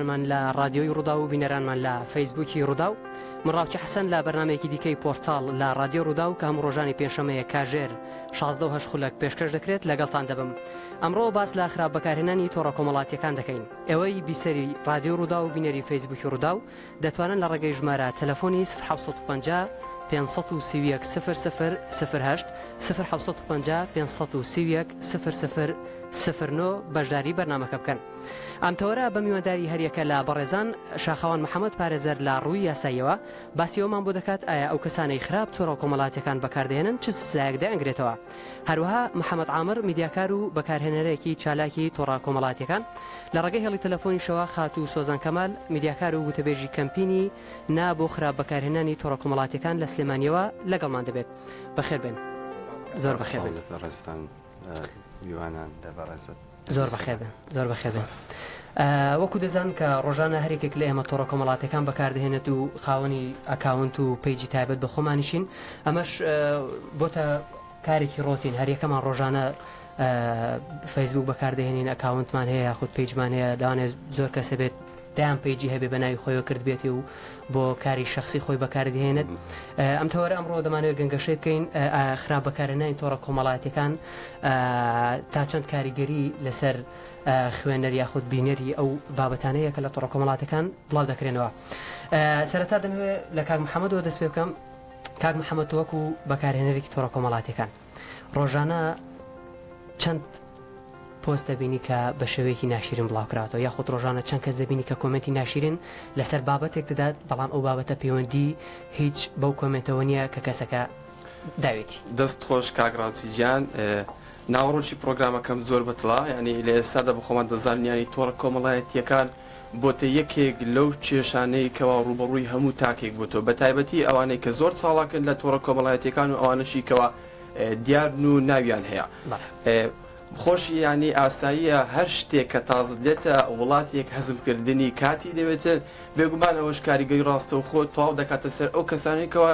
من لە ڕادیۆی ڕووداو و بینەرانمان لە فەیسبووکی ڕووداو من ڕاوچە حەسەن لە بەرنمێکی دیکەی پۆرتال لە ڕادیۆ ڕووداو کە هەموو ڕۆژانی پێنجشەمەیە کاژێر 16 هەش خولەک پێشکەش دەکرێت لەگەڵتان دەبم ئەمڕۆ باس لە خراپ بەکارهێنانی تۆڕە کۆمەڵاتیەکان دەکەین ئێوەی بیسەری ڕادیۆ ڕوودا و بینەری فەیسبووکی ڕوودا و دەتوانن لە ڕێگەی ژمارە تەلەفۆنی 1950 531 سفر سفر سفر هەشت سفر حوسەت پنج پێ سەد و سی و یەک سفر سفر سفر نۆ بەشداری بەرنمەکە بکەن. ئەم تەوەرە بە میوانداری هەریەکە لە بەڕێزان، شاخەوان محەمەد پارێزەر لە ڕووی یاساییەوە باسی ئەوەمان بۆ دەکات ئایا ئەو کەسانەی خراپ تۆڕە کۆمەڵاتیەکان بەکاردەهێنن چ سزایەک دەیانگرێتەوە؟ هەروەها محەمەد عامر میدیاکار و بەکارهێنەرێکی چالاکی تۆڕە کۆمەڵاتیەکان لە ڕێگەی هێڵی تەلەفۆنیشەوە خاتوو سۆزان کەمال میدیاکار و گوتەبێژی کەمپینی نا بۆ خراپ بەکارهێنانی تۆڕە کۆمەڵاتیەکان لە سلێمانیەوە لەگەڵمان دەبێت. بەخێربێن. زۆر بەخێربێن. سڵاو لە بەڕێزتان. میوانان لە بەڕێزت. زۆر بەخێر بێن زۆر بەخێر بێن وەکو دەزان کە ڕۆژانە هەرێکێک لە ئێمە تۆڕە کۆمەڵاتەکان بەکاردهێنێت و خاوەنی ئەکاونت و پیجی تایبەت بە خۆمانیشین ئەمەش بۆتە کارێکی ڕۆتین هەریەکەمان ڕۆژانە فەیسبوک بەکاردهێنین ئەکاونتمان هەیە یاخود پیجمان هەیە داوانێت زۆر کەسە بێت دەیان پەیجی هەبێ بە ناوی خۆیەوە کردبێتێ و بۆ کاری شخصی خۆی بەکاردهێنێت ئەم تەوەرە ئەمڕۆ دەمانەوەی گەنگەشەی بکەین خراپ بەکارەنانی تۆڕە کۆمەڵاتەکان تا چەند کاریگەری لەسەر خوێنەر یاخود بینەری ئەو بابەتانەیە کە لە تۆڕە کۆمەڵاتەکان بڵاو دەکرێنەوە سەرەتا دەمەوێت لە کاک محەممەدەوە دەست پێ بکەم کاک محەممەد تۆوەکو بەکارهێنەرێکی تۆڕە کۆمەڵاتەکان ڕۆژانە چەند پۆست دەبینی کە بە شێوەیەکی ناشرین بڵاوکراتەوە یاخود ڕۆژانە چەند کەس دەبینی کە کۆمنتی ناشرین لەسەر بابەتێک دەدات بەڵام ئەو بابەتە پەیوەندی هیچ بەو کۆمنتەوە نییە کە کەسەکە داوێتی دەست خۆش کاگراوسی گیان ناوەڕۆکی پرۆگرامەکەم زۆر بەتڵا ینی لە ئێستادا بە خۆمان دەزانانی تۆڕە کۆمەڵایەتیەکان بۆتە یەکێک لەو کێشانەی کەوا ڕووبەڕووی هەموو تاکێک بۆتەوە بەتایبەتی ئەوانەی کە زۆر چاڵاکن لە تۆڕە کۆمەڵایەتیەکان و ئەوانەشی کەوا دیارن و ناویان هەیە خۆشی یانی ئاساییە هەر شتێک کە تازت لێتە وڵاتێک هەزمکردنی کاتی دەوێتن بێگومان ئەوەش کاریگەی ڕاستەوخۆ تەواو دەکاتە سەر ئەو کەسانێکەوە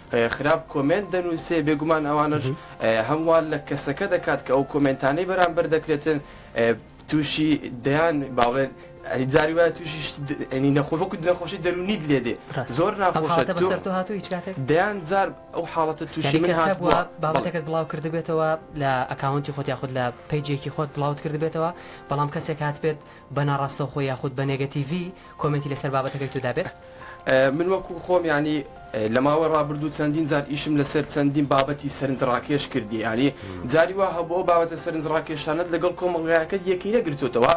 خراپ کۆمێنت دەنوسێ بێگومان ئەوانەش هەم وا لە کەسەکە دەکات کە ئەو کۆمێنتانەی بەرامبەر دەکرێتن تووشی دەیان باڵێن جاری وایە تووشی ئەنی نەخۆ وەکو نەخۆشی دەرونیت لێ دێ زۆر ناخۆشە دەیان جار ئەو حاڵەتە تووشی من هات بووە بابەتەکەت بڵاو کردبێتەوە لە ئەکاونتی خۆت یاخود لە پیجێکی خۆت بڵاوت کردبێتەوە بەڵام کەسێک هات بێت بە ناڕاستەوخۆ یاخود بە نێگەتیڤی کۆمێنتی لەسەر بابەتەکەی تۆ دابێت؟ من وەکو خۆم یانی لە ماوەی ڕابردوو چەندین جار ئیشم لەسەر چەندین بابەتی سەرنجڕاکێش کردی یانی جاری وا هەبوو ئەو بابەتە سەرنجڕاکێشانت لەگەڵ کۆمەڵگایەکەت یەکەی نەگرتوتەوە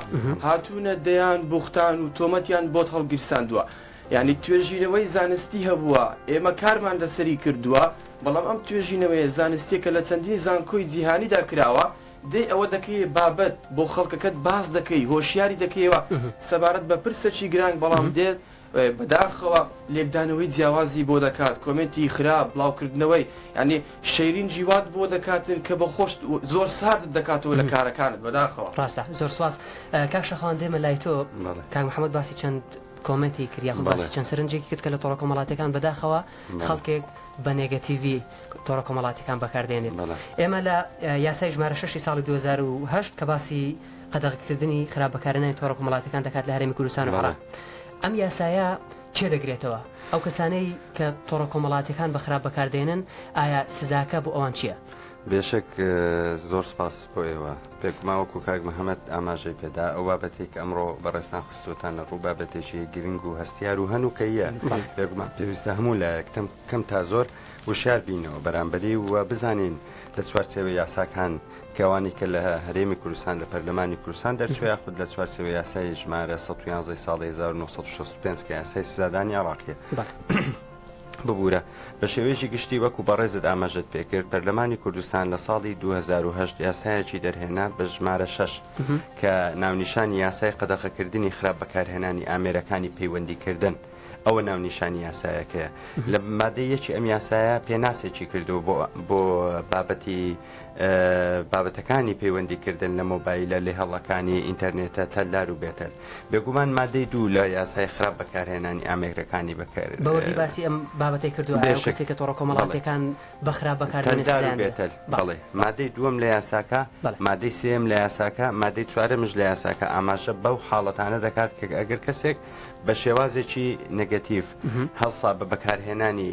هاتوونە دەیان بوختان و تۆمەتیان بۆت هەڵگیرساندووە یانی توێژینەوەی زانستی هەبووە ئێمە کارمان لەسەری کردووە بەڵام ئەم توێژینەوەیە زانستیەکە لە چەندین زانکۆی جیهانیدا کراوە دەی ئەوە دەکەیە بابەت بۆ خەڵکەکەت باس دەکەی هۆشیاری دەکەیەوە سەبارەت بە پرسەکی گرانگ بەڵام دێت بەداخەوە لێکدانەوەی جیاوازی بۆ دەکات کۆمنتی خراپ بڵاوکردنەوەی ینی شەیرین جیوات بۆ دەکاتن کە بە خۆشت زۆر سارد دەکاتەوە لە کارەکانت بەداخەوە ڕاستە زۆر سواز کاک شەخوان دێمە لای تۆ کاک محەممەد باسی چەند کۆمنتی کرد یاخود باسی چەند سەرنجێکی کرد کە لە تۆڕە کۆمەڵاتەکان بەداخەوە خەڵکێک بە نێگەتیڤی تۆڕە کۆمەڵاتیەکان بەکاردێنێت ئێمە لە یاسای ژمارە ششی ساڵی 2010 کە باسی قەدەغکردنی خراپ بەکارنانی تۆڕە کۆمەڵاتەکان دەکات لە هەرێمی کوردستان و عراق ئەم یاسایە چێ دەگرێتەوە ئەو کەسانەی کە تۆڕە کۆمەڵاتەکان بە خراپ بەکاردێنن ئایا سزاکە بۆ ئەوان چییە؟ بێشک زۆر سپاس بۆ ئێوە. بێگومان وەکو کاک محەمەد ئاماژەی پێدا ئەو بابەتەی کە ئەمڕۆ بەڕێزتان خستووەتانە ڕوو بابەتێکی گرنگ و هەستیار و هەنووکەیە بێگومان پێویستە هەموو لایەک تەم کەم تا زۆر وشیار بینەوە بەرامبەری و بزانین لە چوارچێوە یاساکان کەوانی کە لە هەرێمی کوردستان لە پەرلەمانی کوردستان دەرچوێ یاخود لە چوارچێوە یاسای ژمارە 1970 ساڵی 1965 کە یاسای سزادانی عراقیە ببورە بە شێوەیەکی گشتی وەکو بەڕێزت ئاماژەت پێکرد پەرلەمانی کوردستان لە ساڵی 2010 یاسایەکی دەرهێنا بە ژمارە 6 کە ناونیشانی یاسای قەدەخەکردنی خراپ بەکارهێنانی ئامێرەکانی پەیوەندیکردن. ئەوە ناونیشانی یاسایەکەیە لە مادەیەکی ئەم یاسایە پێناسێکی کردو بۆ بابەتی بابەتەکانی پەیوەندیکردن لە مۆبایلە لێهەڵەکانی ئینتەرنێتە تەلدار و بێتەل بێگومان مادەی دوو لە یاسای خراپ بەکارهێنانی ئامێرەکانی بەکرد بەوەی باسی ئەم بابەتی کردو کە تۆڕە کۆمەڵاتەکان بەخراپ بەکارێتەل بەڵێ مادەی دووەم لە یاساکە مادەی سم لە یاساکە مادەی چوارە مژ لە یاساکە ئاماژە بەو حاڵەتانە دەکات کە ئەگەر کەسێک بە شێوازێکی نگەتیف هەڵسا بە بەکارهێنانی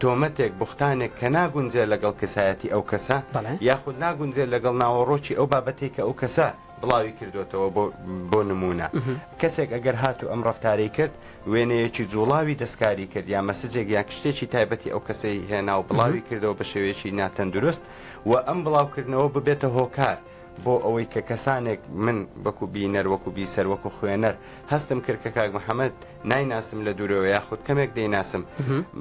تۆمەتێک، بوختانێک کە ناگونجێ لەگەڵ کەسایەتی ئەو کەسە یاخود ناگونجێ لەگەڵ ناوەڕۆکی ئەو بابەتەی کە ئەو کەسە بڵاوی کردۆتەوە بۆ نموونە کەسێک ئەگەر هات و ئەم ڕفتارەی کرد وێنەیەکی جوڵاوی دەستکاری کرد یا مەسجێک یا کشتێکی تایبەتی ئەو کەسەی هێنا و بڵاوی کردەوە بە شێوەیەکی ناتەندروست و ئەم بڵاوکردنەوە ببێتە هۆکار بۆ ئەوەی کە کەسانێک من بەکو بینەر وەکو بیسەر وەکو خوێنەر هەستم کرد کە کاک محەممەد نایناسم لە دوورەوە یاخود کەمێک دەیناسم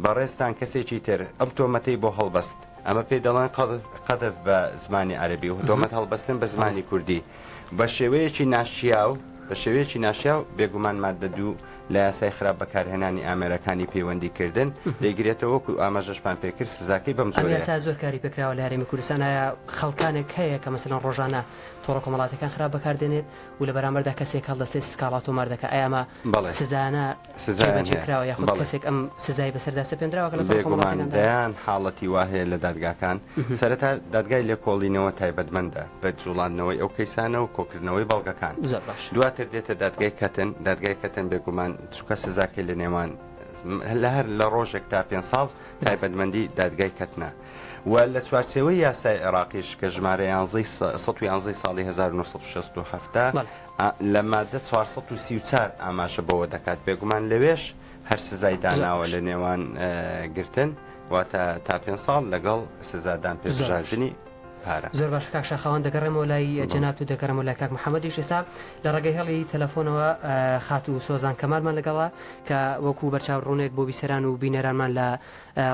بەڕێستان کەسێکی تر ئەم تۆمەتەی بۆ هەڵبەست ئەمە پێی دەڵێن قەدف بە زمانی عەربی و تۆمەت هەڵبەستن بە زمانی کوردی بە شێوەیەکی ناشیاو بە شێوەیەکی ناشیا و بێگومان مادە دوو لە یاسای خراپ بەکارهێنانی ئامێرەکانی پەیوەندی کردن دەیگرێتەوە وەکو ئاماژەشمان پێکرد سزاکەی بەم جۆرەیە. ئەم یاسایە زۆر کاری پێکراوە لە هەرێمی کوردستان، ئایا خەڵکانێک هەیە کە مەسەلەن ڕۆژانە تۆڕە کۆمەڵاتیەکان خراپ بەکاردێنێت و لە بەرامبەردا کەسێک هەڵدەسێت سکاڵا تۆمار دەکات ئایا ئەمە سزایانە جێبەجێ کراوە یاخود کەسێک ئەم سزای بەسەردا سەپێنراوە کە لە تۆڕە کۆمەڵاتیەکان؟ بێگومان دەیان حاڵەتی وا هەیە لە دادگاکان سەرەتا دادگای لێکۆڵینەوە تایبەتمەندە بە جوڵاندنەوەی ئەو کەیسانە و کۆکردنەوەی بەڵگەکان زۆر باش. دواتر دێتە دادگای کەتن، دادگای کەتن بێگومان چونکە سزاکەی لە نێوان لە هەر لە ڕۆژێک تا پێنج ساڵ تایبەتمەندی دادگای کەتنە و لە چوارچێوەی یاسای عێراقیش کە ژمارە یانزەی سە سەد و یانزەی ساڵی هەزار و نۆ سەد و شەست و حەفت بەڵێ. ئا لە مادە چوار سەد و سی و چوار ئاماژە بەوە دەکات بێگومان لەوێش هەر سزای زۆر داناوە باش. لە نێوان گرتن واتە تا پێنج ساڵ لەگەڵ سزادان پێ زۆر باش. بژاردنی. پارە. زۆر باشە کاک شاخەوان دەگەڕێمەوە لای جەنابت و دەگەڕێمەوە لای کاک محەمەدیش ئێستا لە ڕێگەی هێڵی تەلەفۆنەوە خاتوو سۆزان کەمالمان لەگەڵا کە وەکو بەرچاو ڕوونێک بۆ بیسەران و بینەرانمان لە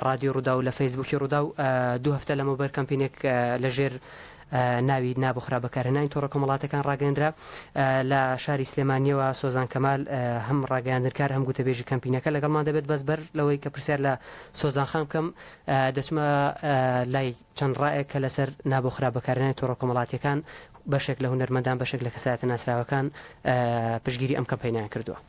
ڕادیۆ ڕوودا و لە فەیسبووکی ڕوودا و دوو هەفتە لەمە بەر کەمپینێک لەژێر ناوی نابۆ خراپ بەکارهێنانی تۆڕە کۆمەڵاتەکان ڕاگەندرا لە شاری سلێمانیەوە سۆزان کەمال هەم ڕاگەیاندنکار هەم گوتەبێژی کەمپینەکە لەگەڵمان دەبێت بەس بەر لەوەی کە پرسیار لە سۆزان خان بکەم دەچمە لای چەند ڕایەک کە لەسەر نا بۆ خراپ بەکارهێنانی تۆڕە کۆمەڵاتییەکان بەشێک لە هونەرمەندان بەشێک لە کەسایەتە ناسراوەکان پشتگیری ئەم کەمپەینەیان کردووە.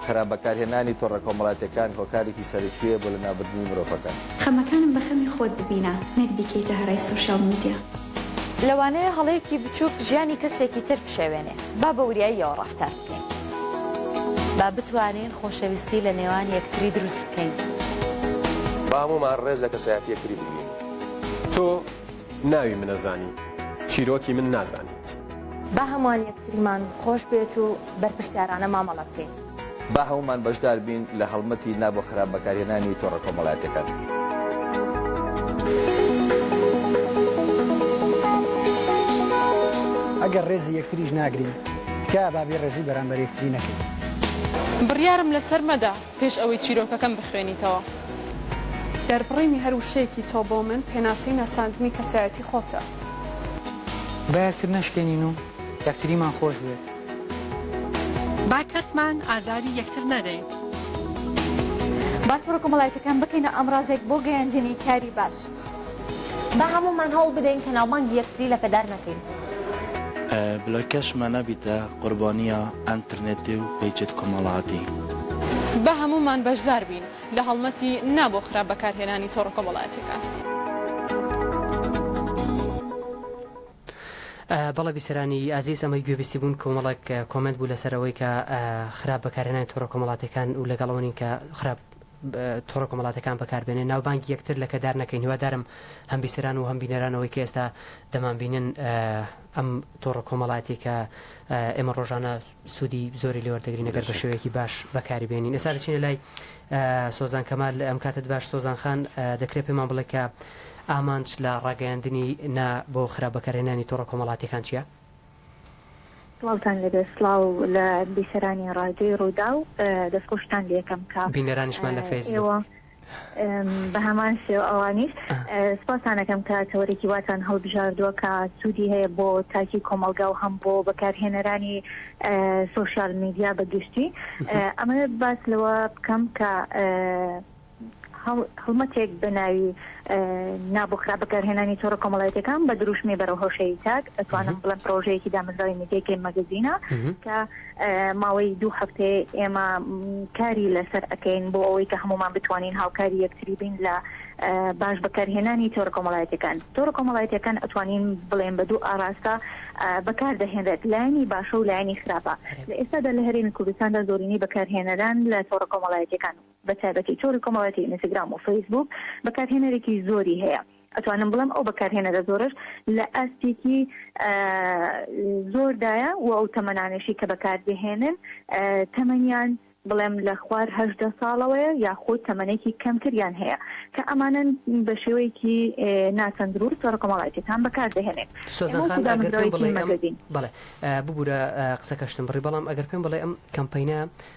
خراپ بەکارهێنانی تۆڕە کۆمەڵاتییەکان هۆکارێکی سەرەکییە بۆ لەناوبردنی مرۆڤەکان. خەمەکانم بە خەمی خۆت ببینە نەک بیکەیتە هەرای سۆشیال میدیا. لەوانەیە هەڵەیەکی بچووک ژیانی کەسێکی تر بشێوێنێ، با بە وریاییەوە ڕەفتار. بکەین با بتوانین خۆشەویستی لە نێوان یەکتری دروست بکەین با هەموومان ڕێز لە کەسایەتی یەکتری بگرین تۆ ناوی منە زانی چیرۆکی من نازانیت. با هەمووان یەکتریمان خۆش بێت و بەرپرسیارانە مامەڵە بکەین. با هەموومان بەشدار بین لە هەڵمەتی نا بۆ خراپ بەکارهێنانی تۆڕە کۆمەڵایەتیەکان. ئەگەر ڕێزی یەکتریش ناگرین. تکایە با بێ ڕێزی بەرامبەر یەکتری نەکەین. بڕیارم لەسەر مەدە پێش ئەوەی چیرۆکەکەم بخوێنیتەوە. دەربڕینی هەر وشەیەکی تۆ بۆ من پێناسەی ناساندنی کەسایەتی خۆتە. با یەکتر نەشکێنین و یەکتریمان خۆش بوێت. با کەسمان ئازاری یەکتر نەدەین. با تۆڕە کۆمەڵایەتیەکان بکەینە ئامڕازێک بۆ گەیاندنی کاری باش. با هەموومان هەوڵ بدەین کە ناوبانگی یەکتری لەکەدار نەکەین. بلۆکەش مە نەبیتە قوربانیە ئەنترنێتی و پەیچت کۆمەڵاتی. با هەموومان بەشدار بین لە هەڵمەتی نا بۆ خراپ بەکارهێنانی تۆڕە کۆمەڵایەتیەکان. بەڵێ بیسەرانی ئازیز ئەمەی گوێبیستی بوون کۆمەڵێک کۆمێنت بوو لەسەر ئەوەی کە خراپ بەکارهێنانی تۆڕە کۆمەڵاتیەکان و لەگەڵ ئەوەین کە خراپ تۆڕە کۆمەڵاتیەکان بەکاربێنێ ناوبانگی یەکتر لەکەدار نەکەین هیوادارم هەم بیسەران و هەم بینەران ئەوەی کە ئێستا دەمان بینن ئەم تۆڕە کۆمەڵاتی کە ئێمە ڕۆژانە سوودی زۆری لێوەردەگرین نەگەر بە شێوەیەکی باش بەکاری بێنین ئێستا دەچینە لای سۆزان کەمال ئەم کاتت باش سۆزان خان دەکرێت پێمان بڵێ کە ئامانج لە ڕاگەیاندنی نا بۆ خراپ بەکارێنانی تۆڕە کۆمەڵاتیەکان چیە؟ سڵاوتان لێبێ سڵاو لە بیسەرانی ڕادیۆی ڕووداو دەستخۆشتان لێکەم کە بینەرانیشمان لە فەیسبووک. ئێوە ئم، بە هەمان شێوە ئەوانیش ئە، سوپاستان ئەکەم کە تەوەرێکی واتان هەڵبژاردووە کە سوودی هەیە بۆ تاکی کۆمەڵگا و هەم بۆ بەکارهێنەرانی ئە، سۆشیال میدیا بە گشتی ئە، ئەمەوێت باس لەوە بکەم کە ئە، هەڵمەتێک بە ناوی نا بۆ خراپ بەکارهێنانی تۆڕە کۆمەڵایەتیەکان بە دروشمی بەرەو هۆشەیی تاک ئەتوانم بڵێم پرۆژەیەکی دامەزراوی میدیای گەیم مەگەزینە کە ماوەی دوو هەفتێ ئێمە کاری لەسەر ئەەکەین بۆ ئەوەی کە هەمومان بتوانین هاوکاری یەکتری بین لە باش بەکارهێنانی تۆرە کۆمەڵایەتەکان تۆرە کۆمەڵایەتەکان ئەتوانین بڵێن بە دوو ئاراستە بەکار دەهێنرێت لایانی باشە و لایانی خراپە لە ئێستادا لە هەرێمی کوردستاندا زۆرینەی بەکارهێنەران لە تۆڕە کۆمەڵایەتەکان بە تایبەتی تۆڕی کۆمەڵایەتی ئینستگرام و فەیسبووک بەکارهێنەرێکی زۆری هەیە، ئەتوانم بڵێم ئەو بەکارهێنەرە زۆرەش لە ئاستێکی زۆردایە و ئەو تەمەنانەشی کە بەکاردەهێنن تەمەنیان بڵێم لە خوار هەژدە ساڵەوەیە یاخود تەمەنێکی کەمتریان هەیە کە ئەمانەن بە شێوەیەکی ناتەندروست تۆڕە کۆمەڵایەتیەکان بەکاردەهێنێت. سۆزان خان ئەگەر پێم بڵێی ئەم بەڵێ ببورە قسەکەشتم بڕی بەڵام ئەگەر پێم بڵێ ئەم کەمپەینە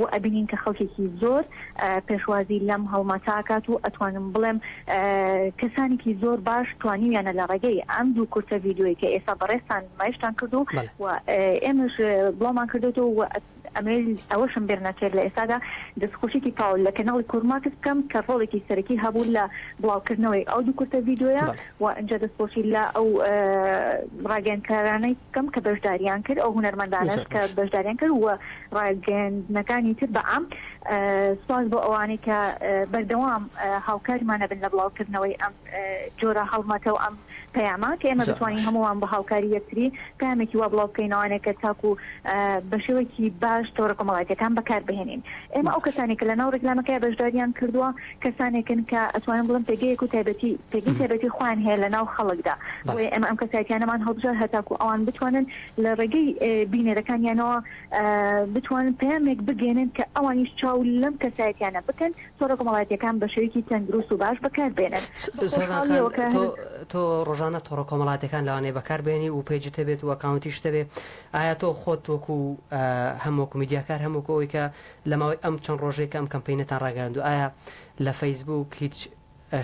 و ئەبینین کە خەڵکێکی زۆر پێشوازی لەم هەڵمەتە ئەکات و ئەتوانم بڵێم کەسانێکی زۆر باش توانیویانە لە ڕێگەی ئەم دوو کورتە ڤیدیۆی کە ئێستا بەڕێزتان نمایشتان کردو و ئێمەش بڵاومان کردێتەوە و ئەمەوێت ئەوەشم بێر نەچێت لە ئێستادا دەستخۆشیکی تاو لە کەناڵی کورماکس بکەم کە ڕۆڵێکی سەرەکی هەبوو لە بڵاوکردنەوەی ئەو دوو کورتە ڤیدیۆیە و ئینجا دەستخۆشی لە ئەو ڕاگەیاندکارانەی بکەم کە بەشداریان کرد ئەو هونەرمەندانەش کە بەشداریان کرد و ڕاگەیاندنەکانی تر بە عام. سوپاس بۆ ئەوانەی کە بەردەوام هاوکارمان ئەبن لە بڵاوکردنەوەی ئەم جۆرە هەڵمەتە و ئەم پەیامە کە ئێمە بتوانین هەمووان بە هاوکاری یەکتری پەیامێکی وا بڵاو بکەینەوانێ کە تاکوو بە شێوەیەکی باش تۆڕە کۆمەڵایەتییەکان بەکار بهێنین. ئێمە ئەو کەسانەی کە لە ناو ڕیکلامەکەیا بەشدارییان کردووە کەسانێکن کە ئەتوانم بڵێم پێگەیەک و تایبەتی پێگەی تایبەتی خۆیان هەیە لە ناو خەڵکدا بۆیە ئێمە ئەم کەسایەتیانەمان هەڵبژارد هەتاکوو ئەوان بتوانن لە ڕێگەی بینەرەکانیانەوە بتوانن پەیامێک بگەێنن کە ئەوانیش چاو لەم کەسایەتیانە بکەن تۆڕە کۆمەڵاتیەکان بە شێوەیەکی تەندروست و باش بەکار بێنن تۆ ڕۆژانە تۆڕە کۆمەڵاتەکان لەوانەیە بەکار بێنی و پێجی تەبێت و ئەکاونتی شتەبێ ئایا تۆ خۆت وەکو هەمووکو میدیاکار هەمووکەوەی کە لە ماوەی ئەم چەند ڕۆژێک ئەم کەمپینەتان ڕاگەاند و ئایا لە فەیسبوک هیچ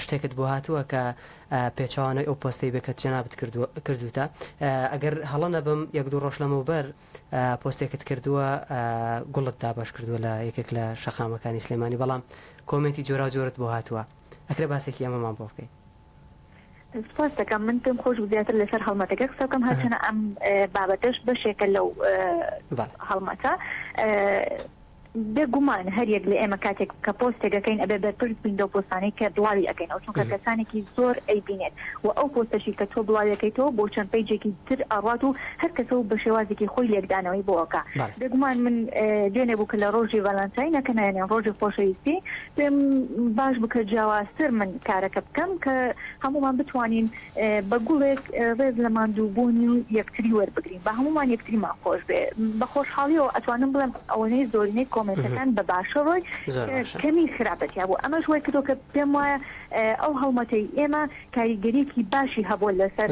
شتێکت بۆ هاتووە کە پێچەوانەی ئەو پۆستەی بێ کە جەنابت کردووتە ئەگەر هەڵە نەبم یەک دوو ڕۆژ لەمەوبەر پۆستێکت کردووە گوڵت دابش کردووە لە یەکێک لە شەقامەکانی سلێمانی بەڵام کۆمێنتی جۆرا جۆرت بۆ هاتووە ئەکرێ باسێکی ئەمەمان بۆ بکەیت سپاس دەکەم من پێم خۆش زیاتر لەسەر هەڵمەتەکە قسە بکەم هەرچەنە ئەم بابەتەش بەشێکە لەو هەڵمەتە بێ گومان هەریەک لە ئێمە کاتێک کە پۆستێک ئەکەین ئەبێ بەرپرس بین لەو پۆستانەی کە بڵاوی ئەکەینەوە چونکە کەسانێکی زۆر ئەیبینێت و ئەو پۆستەشی کە تۆ بڵاوی ئەکەیتەوە بۆ چەند پەیجێکی تر ئەڕوات و هەر کەسە و بە شێوازێکی خۆی لێکدانەوەی بۆ ئەکا بێ گومان من دوێنێ بوو کە لە ڕۆژی ڤالانتاینە کە نایەنێن ڕۆژی خۆشەویستی پێم باش بوو کە جیاوازتر من کارەکە بکەم کە هەموومان بتوانین بە گوڵێک ڕێز لە ماندووبوونی یەکتری وەربگرین با هەموومان یەکتریمان خۆش بێ بە خۆشحاڵیەوە ئەتوانم بڵێم ئەوەنەی زۆرینەی کۆمنتەکان بە باشە ڕۆی کەمی خراپەتیا بوو ئەمەش وای کردو کە پێم وایە ئەو هەڵمەتەی ئێمە کاریگەریکی باشی هەبووە لەسەر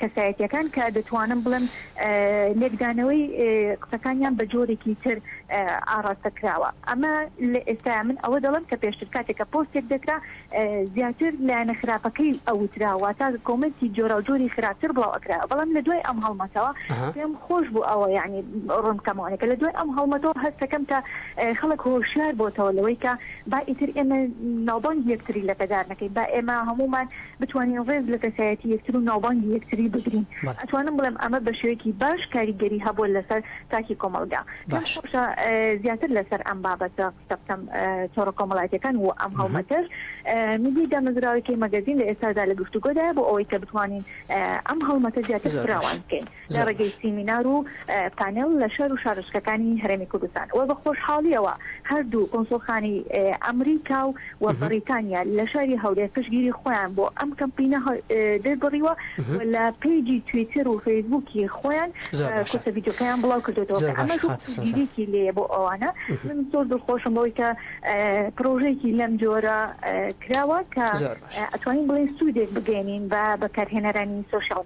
کەسایەتەکان کە دەتوانم بڵێم لێکدانەوەی قسەکانیان بە جۆرێکی تر ئاڕاستە کراوە ئەمە لە ئێستا من ئەوە دەڵم کە پێشتر کاتێکە پۆستێک دەکرا زیاتر لایەنە خراپەکەی ئەوترا واتا کۆمێنتی جۆراوجۆری خراپتر بڵاو ئەکرا بەڵام لە دوای ئەم هەڵمەتەوە پێم خۆش بوو ئەوە یعنی ڕوونکەمەوەەکە لە دوای ئەم هەڵمەتەوە هەستەکەم کە خەڵک هۆشیار بۆتەوە لەوەی کە با ئیتر ئێمە ناوبانگی یەکتری لەکەدار نەکەین با ئێمە هەمومان بتوانین ڕێز لە کەسایەتی یەکتر و ناوبانگی یەکتری بگرین ئەتوانم بڵێم ئەمە بە شێوەیەکی باش کاریگەری هەبووە لەسەر تاکی کۆمەڵگا پێم خۆشە زیاتر لەسەر ئەم بابەتە سەپتەم تۆڕە کۆمەڵاتیەکان و ئەم هەڵمەتەش میدی دامەزراوەکەی مەگەزین لە ئێستادا لە گفتوگۆدا بۆ ئەوەی کە بتوانین ئەم هەڵمەتە زیاتر فراوان بکەین لە ڕێگەی سیمینار و پانێڵ لە شار و شارشکەکانی هەرێمی کوردستان و بە خۆشحاڵیەوە هەردوو کۆنسۆلخانی ئەمریکا و و بەڕیتانیا لە شاری هەولێر پشگیری خۆیان بۆ ئەم کەمپینە دەربڕیوە و لە پەیجی تویتر و فەیسبووکی خۆیان کورتە ڤیدیۆکەیان بڵاو کردێتەوە کە ئەمەش پشگیریەکی لێیە بۆ ئەوانە من زۆر دڵخۆشم بەوەی کە پرۆژەیەکی لەم جۆرە کراوە کە ئەتوانین بڵێن سوودێک بگەێنین بە بەکارهێنەرانی سوسیال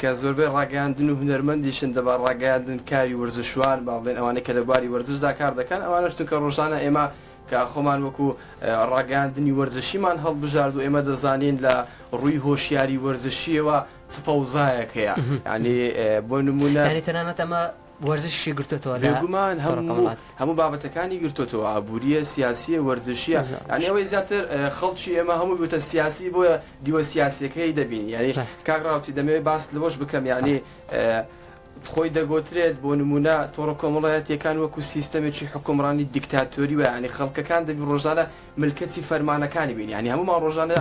کە زۆربەی ڕاگەیاندن و هونەرمەندیشن دەبا ڕاگەیاندن کاری ورزشوان با بڵێن ئەوانەی کە لە بواری وەرزشدا کار دەکەن ئەوانەش چونکە ڕۆژانە ئێمە کە خۆمان وەکو ڕاگەیاندنی وەرزشیمان هەڵبژارد و ئێمە دەزانین لە ڕووی هۆشیاری وەرزشیەوە چ فەوزایەک هەیە ینی بۆ نمونە یانی تەنانەت ئەمە وەرزشیشی گرتۆتەوە لە بێگومان تۆڕەکە هەموو وڵات. هەموو بابەتەکانی گرتۆتەوە ئابوورییە، سیاسییە، وەرزشییە، زۆر یانی باش. ئەوەی زیاتر ئە، خەڵکی ئێمە هەمووی بووتە سیاسی بۆیە دیوە سیاسییەکەی دەبینی یانی ڕاستە. کاک ڕاوچی دەمەوێت باست لەوەش بکەم یانی فەرموو. ئە، خۆی دەگۆترێت بۆ نموونە تۆڕە کۆمەڵایەتییەکان وەکوو سیستەمێکی حوکمڕانی دیکتاتۆری وایە یانی خەڵکەکان دەبی ڕۆژانە ملکەچی فەرمانەکانی بین یانی هەموومان ڕۆژانە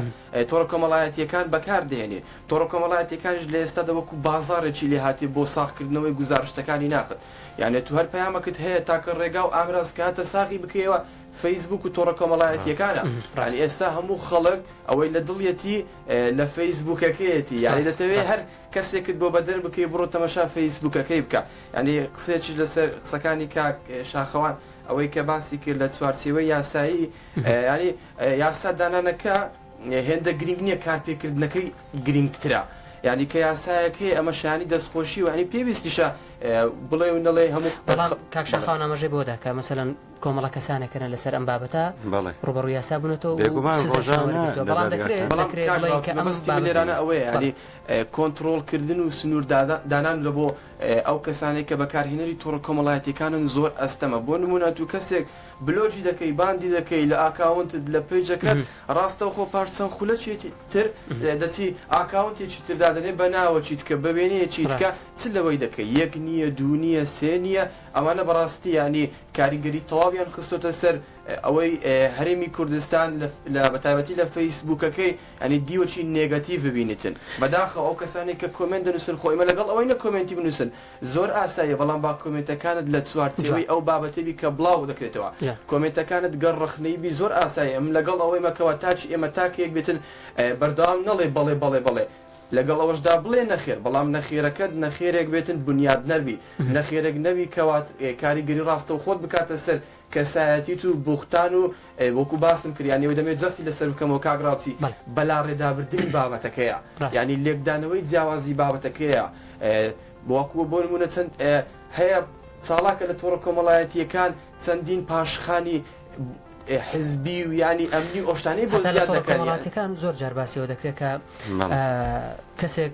تۆڕە کۆمەڵایەتیەکان بەکار دێنین تۆڕە کۆمەڵایەتەکانیش لە ئێستادا وەکو بازارێکی لێ هااتێ بۆ ساخکردنەوەی گوزارشتەکانی ناخت یانێت تو هەر پەیامەکت هەیە تاکە ڕێگا و ئامراز کاتە ساغی بکەیەوە فەیسبوک و تۆڕە کۆمەڵایەتیەکانە ڕانی ئێستا هەموو خەڵک ئەوەی لە دڵیەتی لە فەیسبوکەکەیەتی یاری دەتەوێت هەر کەسێکت بۆ بەدەر بکەی بڕۆ تەمەشا فەیسبوکەکەی بکە ینی قسێکیش لەسەر قسەکانی کاک شاخەوان ئەوەی کە باسی کرد لە چوارچێوەی یاسایی یاری یاسا دانانەکە هێندە گرنگ نییە کارپێکردنەکەی گرنگترە یعنی کە یاسایەکەی ئەمە شانی دەستخۆشی وانی پێویستیشە بڵێ و نەڵێ هەموو بەڵام کاکشاخان ئاماژەی بۆدا کە مەسەەن کۆمەڵە کەسانێکەکەە لەسەر ئەم بابەتە ڕوبڕو یاسا بوونەتەوە بێگومانێرانە ئەوەیە ینی کۆنتترۆلکردن و سنووردادان لە بۆ ئەو کەسانەی کە بەکارهێنەری تۆڕە کۆمەڵایەتیەکانن زۆر ئەستەمە بۆ نمونە تو کەسێک بلۆگی دەکەی باندی دەکەی لە ئاکاونتت لە پەیجەکەت ڕاستەوخۆ پاش چەند خولەکی تر دەچی ئاکاونتێکی تر دادەنێ بە ناوەکی تکە بە وێنەیەکی تکە چ لەوەی دەکەی یەک نییە دوو نییە سێ نییە ئەمانە بەڕاستی یانی کاریگەری تەواویان خستۆتە سەر ئەوەی هەرێمی کوردستان لە بەتایبەتی لە فەیسبوکەکەی یانی دیوەچی نێگەتیڤ ببینیتن بەداخەوە ئەو کەسانەی کە کۆمێنت دەنوسن خۆ ئێمە لەگەڵ ئەوەی نە کۆمێنتی بنوسن زۆر ئاساییە بەڵام با کۆمێنتەکانت لە جوان چوارچێوەی ئەو بابەتەی بی کە بڵاو دەکرێتەوە جوان کۆمێنتەکانت گەر ڕەخنەیی بی زۆر ئاساییە ئێمە لەگەڵ ئەوەی مە کەوە تا چ ئێمە تاکە یەک بێتن بەردەوام نەڵێ بەڵێ بەڵێ بەڵێ لەگەڵ ئەوەشدا بڵێ نەخێر بەڵام نەخێرەکەت نەخێرێک بێتن بنیادنەر بی نەخێرێک نەبی کەوات کاریگەری ڕاستەوخۆت بکاتە سەر کەسایەتیت و بوختان و وەکو باسم کرد یانی ئەوەی دەمەوێت جەختی لەسەر بکەمەوە کاک ڕاوچی بەڵێ. بەلاڕێدابردنی بابەتەکەیە ڕاستە. یانی لێکدانەوەی جیاوازی بابەتەکەیە وەکو بۆ نمونە چەند هەیە چاڵاکە لە تۆڕە کۆمەڵایەتیەکان چەندین پاشخانی حزبی و یانی ئەمنی ئەو شتانەی بۆ زیاد دەکەن یانی. هەتا لە تۆڕە کۆمەڵاتیەکان زۆر جار باسی ئەوە دەکرێت کە بەڵێ. کەسێک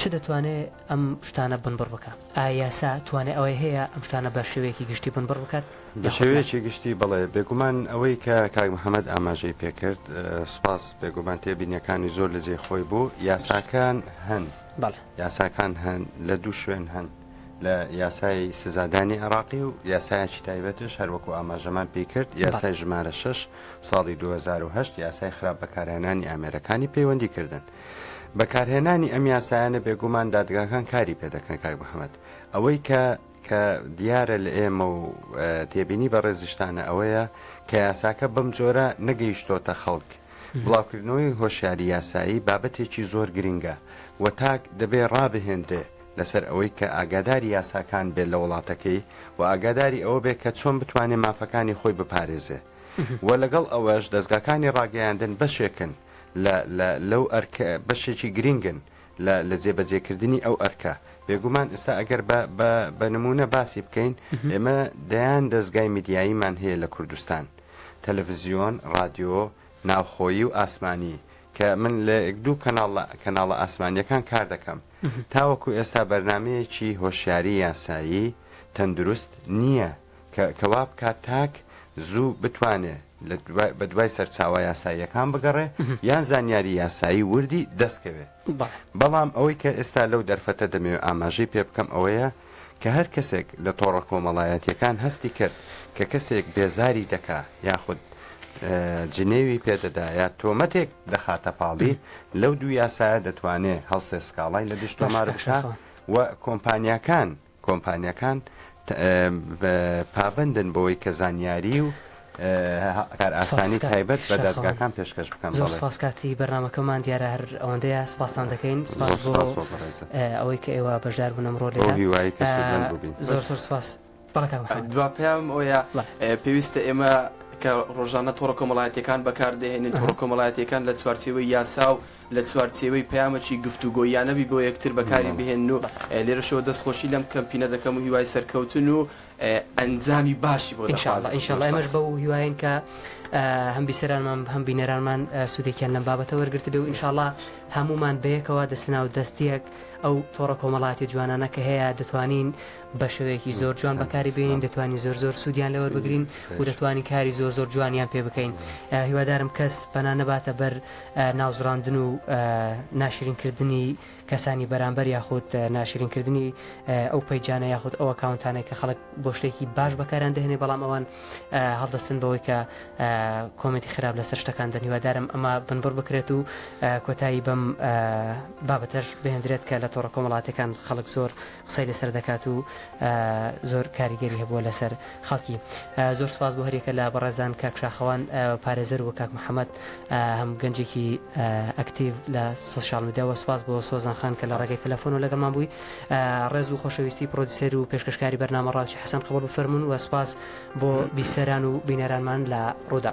چ دەتوانێ ئەم شتانە بنبڕ بکا؟ ئایا یاسا توانای ئەوەی هەیە ئەم شتانە بە شێوەیەکی گشتی بنبڕ بکات بە یاخود نا؟ شێوەیەکی گشتی بەڵێ، بێگومان ئەوەی کە کاک محەمەد ئاماژەی پێ کرد، سوپاس، بێگومان تێبینییەکانی زۆر لە جێی خۆی بوو، یاساکان هەن، بەڵێ. یاساکان هەن، لە دوو شوێن هەن، لە یاسای سزادانی عێراقی و یاسایەکی تایبەتش هەر وەکوو ئاماژەمان پێی کرد، یاسای ژمارە شەش ساڵی دوو هەزار و هەشت، یاسای خراپ بەکارهێنانی ئامێرەکانی پەیوەندیکردن. بەکارهێنانی ئەم یاسایانە بێگومان دادگاکان کاری پێدەکەن کاک محەممەد ئەوەی کە کە دیارە لە ئێمە و تێبینی بە ڕێزیشتانە ئەوەیە کە یاساکە بەم جۆرە نەگەیشتۆتە خەڵک بڵاوکردنەوەی هۆشیاری یاسایی بابەتێکی زۆر گرنگە و تاک دەبێ ڕابهێندرێ لەسەر ئەوەی کە ئاگاداری یاساکان بێت لە وڵاتەکەی و ئاگاداری ئەوە بێت کە چۆن بتوانێت مافەکانی خۆی بپارێزێ و لەگەڵ ئەوەش دەستگاکانی ڕاگەیاندن بەشێکن لە لە لەو ئەرک بەشێکی گرینگن لە لە جێبەجێکردنی ئەو ئەرکە. بێگومان ئێستا ئەگەر بە بە بە نموونە باسی بکەین، ئێمە دەیان دەزگای میدیاییمان هەیە لە کوردستان، تەلەفزیۆن، ڕادیۆ، ناوخۆیی و ئاسمانی، کە من لە یەک دوو کەناڵ لە کەناڵە ئاسمانییەکان کار دەکەم. تاوەکو ئێستا بەرنامەیەکی هۆشیاری یاسایی، تەندروست، نییە کە کە وا بکات تاک زوو بتوانێ. بە دوای سەرچاوە یاساییەکان بگەڕێ یان زانیاری یاسایی وردی دەستکەوێ. بەڵام ئەوەی کە ئێستا لەو دەرفەتە دەمەوێ ئاماژەی پێ بکەم ئەوەیە کە هەر کەسێک لە تۆڕە کۆمەڵایەتییەکان هەستی کرد کە کەسێک بێزاری دەکا یاخود جنێوی پێ دەدا یا تۆمەتێک دەخاتە پاڵی، لەو دوو یاسایە دەتوانێ هەڵسێ سکاڵای لە دژ تۆمار بکا و کۆمپانیاکان، کۆمپانیاکان پابەندن بەوەی کە زانیاری و کارئاسانی تایبەت بە دادگاکان پێشکەش بکەن. زۆر سوپاس کاتی بەرنامەکەمان دیارە هەر ئەوەندەیە سوپاستان دەکەین سوپاس بۆ ئەوەی کە ئێوە بەشدار بوون ئەمڕۆ لێرە هیوای کەسودمەند بووبین زۆر زۆر سوپاس بەڵێ کاک محەمەد. دوا پەیامم ئەوەیە پێویستە ئێمە کە ڕۆژانە تۆڕە کۆمەڵایەتییەکان بەکاردەهێنین تۆڕە کۆمەڵایەتییەکان لە چوارچێوەی یاسا و لە چوارچێوەی پەیامەکی گفتوگۆییانە بی بۆ یەکتر بەکاری بهێنن و لێرەشەوە دەست خۆشی لەم کەمپینە دەکەم و هیوای سەرکەوتن و ئەنجامی باشی بۆ دەخوازم ان شاء اللە ئێمەش بەو هیوایەن کە هەم بیسەرانمان هەم بینەرانمان سوودێکیان لەم بابەتە وەرگرتبێ و ان شاء اللە هەموومان بەیەکەوە دەست لەناو دەستیەک ئەو تۆڕە کۆمەڵاتی جوانانە کە هەیە دەتوانین بە شێوەیەکی زۆر جوان بەکاری بینین دەتوانین زۆر زۆر سوودیان لەوە بگرین و دەتوانین کاری زۆر زۆر جوانیان پێ بکەین هیوادارم کەس پەنا نەباتە بەر ناوزڕاندن و ناشرین کردنی کەسانی بەرامبەر یاخود ناشرین کردنی ئەو پەیجانە یاخود ئەو ئەکاونتانەی کە خەڵک بۆ شتێکی باش بەکاران دەهێنێ بەڵام ئەوان هەڵدەستن بەوەی کە کۆمەنتی خراپ لەسەر شتەکان دەن هیوادارم ئەمە بنبڕ بکرێت و کۆتایی بەم بابەتەش بهێندرێت کە لە تۆڕە کۆمەڵاتەکان خەڵک زۆر قسەی لەسەر دەکات و زۆر کاریگەری هەبووە لەسەر خەڵکی زۆر سپاس بۆ هەرێکە لە بەڕێزان کاک شاخەوان پارێزەر و کاک محەممەد هەم گەنجێکی ئەکتیو لە سوسیال میدیاوە سپاس بۆ سۆزان خان کە لە ڕێگەی تەلەفۆن و لەگەڵمان بووی ڕێز و خۆشەویستی پرۆدیسەر و پێشکەشکاری بەرنامە ڕاوچی حەسەن قبڵ بفەرمونون و سپاس بۆ بیسەران و بینەرانمان لە ڕوودا.